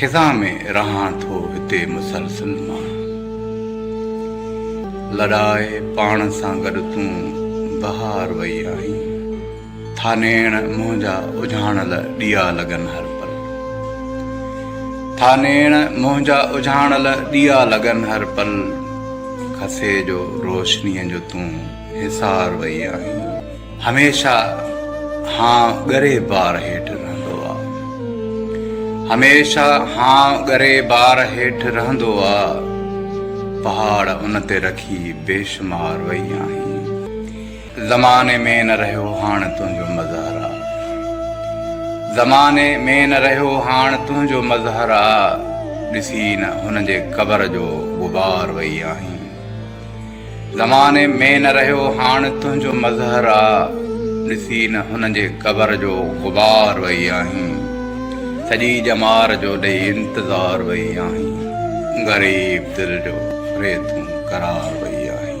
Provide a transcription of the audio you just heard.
خزان ۾ رهان ٿو هتي مسلسل مان. لڏائي پاڻ سان گڏ تون بهار وئي آهين. ٿا نيڻ منهنجا اجهاڻل ڏيئا لڳن هر پل. ٿا نيڻ منهنجا اجهاڻل ڏيئا لڳن هر پل. کسي جو روشنيء جو تون حصار وئي آهين. هميشه هان ڳري بار هيٺ رهندو آ. هميشه هان ڳري بار هيٺ رهندو آ. پهاڙ ان تي رکي بيشمار وئي آهين. زماني ۾ نه رهيو هاڻ تنهنجو مظهر آ. زماني ۾ نه رهيو هاڻ تنهنجو مظهر آ. ڏسي نه هن جي قبر جو غبار وئي آهين. زماني ۾ نه رهيو هاڻ تنهنجو مظهر آ ڏسي نه هن جي قبر جو غبار وئي آهين سڄي ڄمار جو ڏئي انتظار وئي آهين غريب دل جو ري تون قرار وئي آهين.